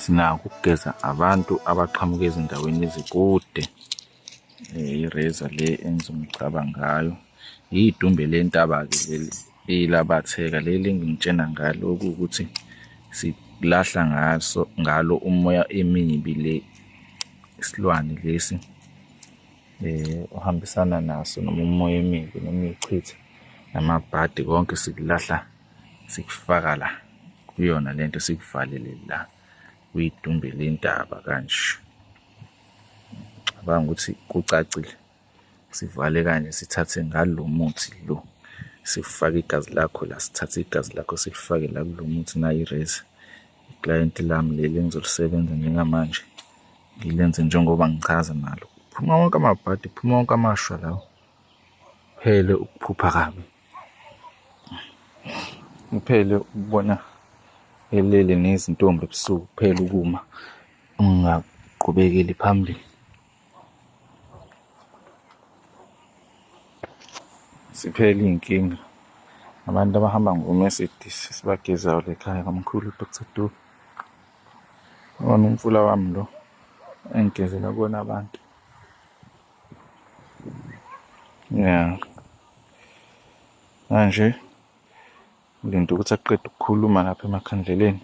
sinako ukugeza abantu abaqhamuka ezindaweni ezikude eh, ireza le enza umcaba ngayo yidumbe lentaba-ke leli eyilabatheka leli engingitshena ngalo okuwukuthi silahla ngaso ngalo umoya emibi le isilwane lesi eh uhambisana naso noma umoya emibi noma ichitha namabhadi konke sikulahla sikufaka la kuyona lento sikuvalele la uyidumbe lentaba kanje cabanga ukuthi kucacile sivale kanje sithathe ngalo muthi lo sifake igazi lakho la sithathe igazi lakho silifake la kulo muthi nayo irezi iclayenti lami leli engizolisebenza njengamanje ngilenze njengoba ngichaza nalo phuma wonke amabhadi phuma wonke amashwa lawo phele ukuphupha kabi Uphele ukubona elele nezintombi ebusuku kuphela ukuma ungaqhubekeli phambili. Siphele iy'nkinga abantu abahamba ngoMercedes sibagezayo lekhaya kamkhulu Dr Dube. Wona umfula wami lo engigezela kuwona abantu. Yeah. Manje ulinda ukuthi aqede ukukhuluma lapha emakhandleleni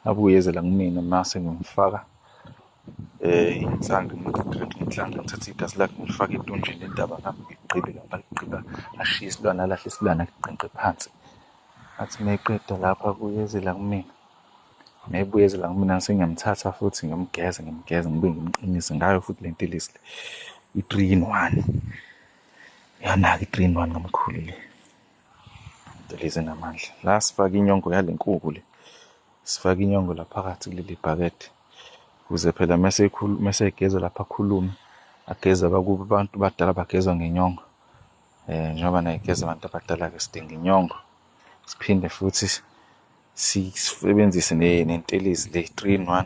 abuyeze la kumina mase ngimfaka eh inhlango ngidreke inhlango ngithathe igazi lakhe ngilifake etonjini indaba ngami ngigqibe lapha ligqiba ashiye isilwane alahle isilwane aliqenqe phansi athi meqeda lapha kuyeze la kumina Ngiyayibuye ezela kumina sengiyamthatha futhi ngimgeze ngimgeze ngibuye ngimqinise ngayo futhi le ntilisi le i-three in one yanaka i-three in one kamkhulu le ntilisi namandla la sifake inyongo yale nkuku le sifake inyongo la phakathi kuleli bhakede ukuze phela mese egeza lapha akhulume ageze abakuba abantu badala bagezwa ngenyongo um njengoba naye geza abantu abadala-ke sidinga inyongo siphinde futhi sisebenzise nentelezi le 3 in 1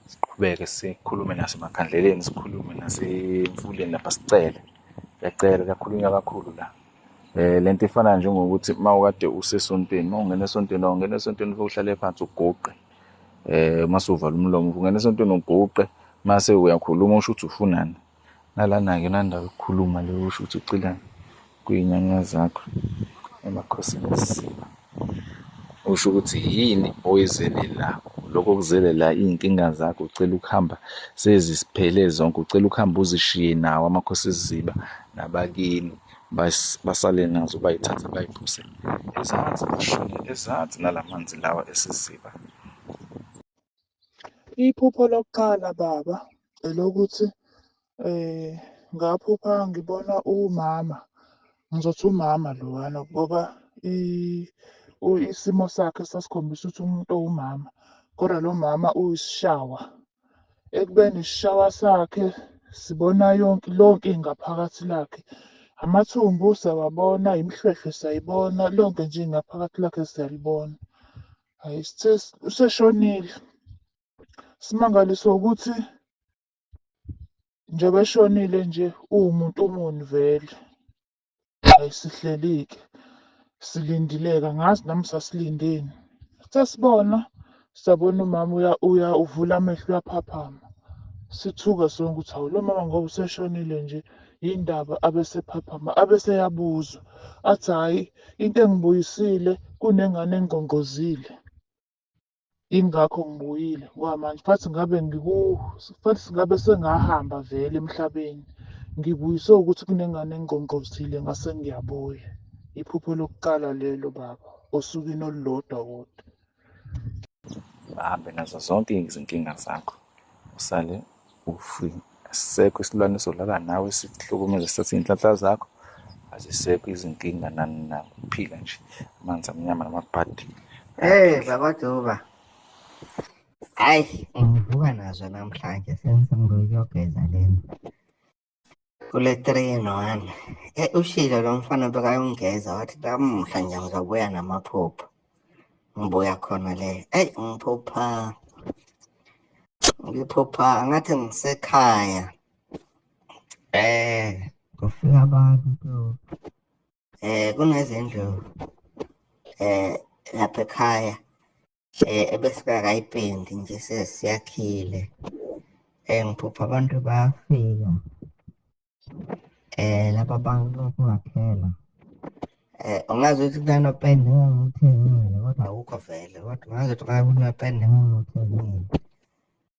siqhubeke sikhulume nasemakhandleleni sikhulume nasemfuleni lapha sicele yacela kakhulunywa kakhulu la eh lento ifana njengokuthi mawukade usesontweni mawungena esontweni awungena esontweni uhlale phansi ugoqe eh masuvala umlomo ungena esontweni ugoqe mase uyakhuluma usho ukuthi ufunani Nalana-ke nanda ukukhuluma le usho ukuthi ucila kuy'nyanya zakho emakhosini esisiba. Usho ukuthi yini oyizelelayo. Lokho kuzelela iy'nkinga zakho ucela ukuhamba sezisiphele zonke, ucela ukuhamba uzishiye nawo amakhosi esiziba nabakini basale nazo bayithathe bayiphuse ezansi bashone ezansi nala manzi lawa esiziba. Iphupho lokuqala baba elokuthi eh ngaphupha ngibona umama ngizothi umama lowana ngoba i- u- isimo sakhe sasikhombisa ukuthi umuntu owumama kodwa lo mama uyisishawa ekubeni isishawa sakhe sibona yonke lonke ingaphakathi lakhe amathumbu siyawabona imihlwehlwe siyayibona lonke nje ingaphakathi lakhe siyalibona Hhayi sithe useshonile. Simangaliswa ukuthi njengoba eshonile nje uwumuntu muni vele. Hhayi sihleli-ke silindileke angazi nami sasilindeni. Sithe sibona sabona umama uya uya uvula amehlo uyaphaphama. Sithuka sonke ukuthi hawu lo mama ngoba useshonile nje yini ndaba abesephaphama abeseyabuzwa. Athi hhayi Into engibuyisile kunengane engqongqozile. Yingakho ngibuyile ngoba manje fathi ngabe ngiku fathi ngabe sengahamba vele emhlabeni. Ngibuyiswe ukuthi kunengane engqongqozile ngase ngiyabuya. Iphupho lokuqala lelo baba osukwini olulodwa kodwa. bahambe nazo zonke izinkinga zakho usale ufi asisekho isilwane solala nawe sihlukumeze sathi iy'nhlanhla zakho azisekho izinkinga nani na uphila nje amanzi amnyama namabhadi hey baba duba hayi ngivuka nazo namhlanje sengisemngokuyogeza lena kule three in one e ushilo lo mfana bekayongeza wathi lamuhla nje ngizobuya namaphupho ngibuya khona le eyi ngiphupha ngiphupha ngathi ngisekhaya eh kufika abantu eh kunezindlu eh lapha ekhaya eh ebesingakayipendi nje sesiyakhile eh ngiphupha abantu bayafika eh laba bantu kungaphela eh ungazi ukuthi kunanopende engangiwuthengile kodwa awukho vele kodwa ungazi ukuthi kunanopende engangiwuthengile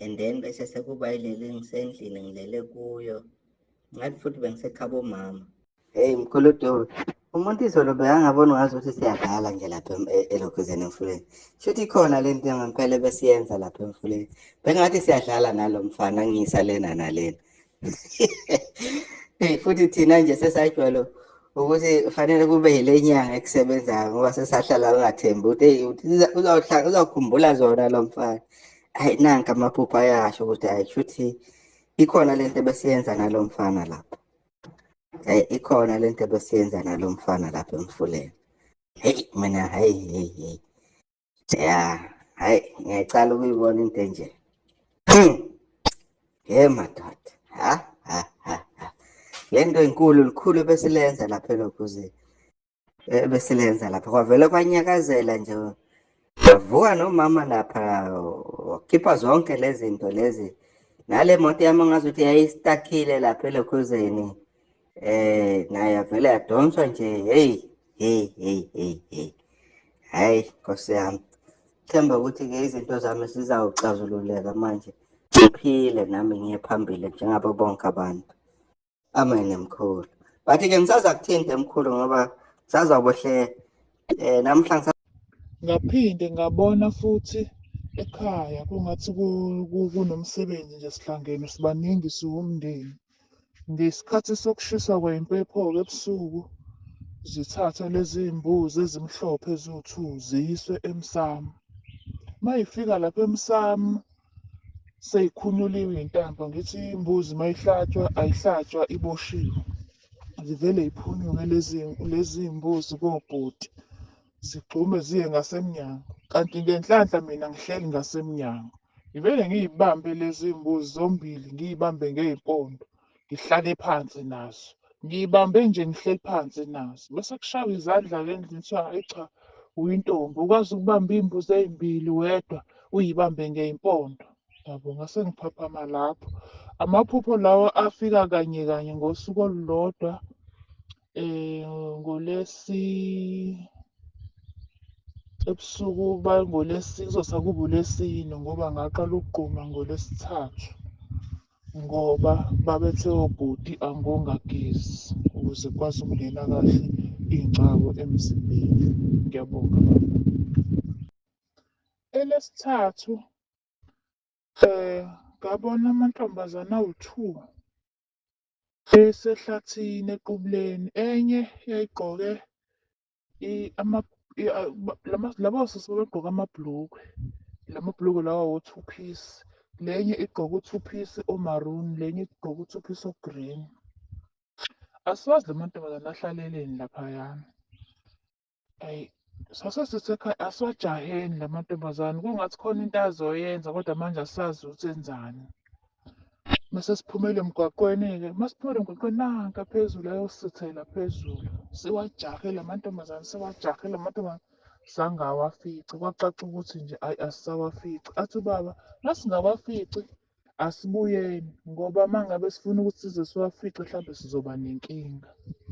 and then bese sekuba ileli ngisendlini ngilele kuyo ngathi futhi bengisekhaba omama heyi mkhuludobe umuntu izolo bekangaboni ngazi ukuthi siyadlala nje lapha e-, elokhuzeni emfuleni shuthi ikhona le nto ngempela ebesiyenza lapha emfuleni bengathi siyadlala nalo mfana ngiyisa lena nalena hey futhi thina nje sesajwalo ukuthi fanele kube yile nyanga ekusebenzayo ngoba sesahlala ungathembi ukuthi hey uzawuhlala uzawukhumbula zona lo mfana hayi nanka amaphupho ayasho ukuthi hayi shuthi ikhona lento ebesiyenza nalo mfana lapha hayi ikhona lento ebesiyenza nalo mfana lapha emfuleni hey mina hayi hey hey ya hayi ngiyacala ukuyibona into enje ye madoda ha ha ha le nto inkulu likhulu ebesilenza lapha elokuze ebesilenza eh, lapha kwavele kwanyakazela nje wavuka nomama lapha wakhipha zonke lezi zinto lezi nale moto yami ngazuthi yayistakile lapha elokhuzeni Eh naye avele yadonswa nje hey hey hey hey hey. Hayi Nkosi yami. Themba ukuthi ke izinto zami sizawuxazululeka manje. Ngiphile nami ngiye phambili njengabo bonke abantu. Amen mkhulu. But ke ngisaza kuthinte mkhulu ngoba sazabohle eh namhlanje ngaphinde ngabona futhi ekhaya kungathi kunomsebenzi nje sihlangene sibaningi siwumndeni Ngesikhathi sokushisa kwempepho-ke ebusuku zithathwe lezi mbuzi ezimhlophe eziwu-two ziyiswe emsamo. Uma yifika lapha emsamo seyikhunyuliwe iy'ntambo ngithi imbuzi uma ihlatshwa ayihlatshwa iboshiwe. Zivele yiphunyuke lezi lezi mbuzi kobhuti zigxume ziye ngasemnyango kanti ngenhlanhla mina ngihleli ngasemnyango. Ngivele ngiyibambe lezi mbuzi zombili ngiyibambe ngey'mpondo ngihlale phansi nazo. Ngiyibambe nje ngihleli phansi nazo. Bese kushaywa izandla-ke endlini kuthiwa hhayi cha uyintombi ukwazi ukubamba iy'mbuzi ey'mbili wedwa uyibambe ngey'mpondo. Yabo ngase ngiphaphama lapho. Amaphupho lawa afika kanye kanye ngosuku olulodwa. eh ngolesi ebusuku bangolesi kuzosa kuba ulesine ngoba ngaqala ukugquma ngolesithathu ngoba babethe obhuti angongagezi ukuze kwazi ukungena kahle iy'ngcabo emzimbeni ngiyabonga baba elesithathu um ngabona amantombazane awu-two Esehlathini eQubuleni, enye yayigqoke laba osisi babegqoke amabhulukwe, la mabhulukwe lawa wo-two piece. Le enye igqoke u-two piece o-maroon, le enye igqoke u-two piece o-green. Asiwazi la mantombazane ahlaleleni laphayana. Ayi sasesesekhaya asiwajaheni la mantombazane kungathi khona into azoyenza kodwa manje asazi ukuthi enzani. Mase siphumele emgwaqweni-ke, uma siphumele emgwaqweni nanka phezulu ayosithela phezulu. Siwajahe la mantombazane, siwajahe la mantombazane zange awafice. Kwacaca ukuthi nje ayi asisawafici. Athi ubaba uma singawafici asibuyeni ngoba uma ngabe sifuna ukuthi size siwafice mhlawumbe sizoba nenkinga.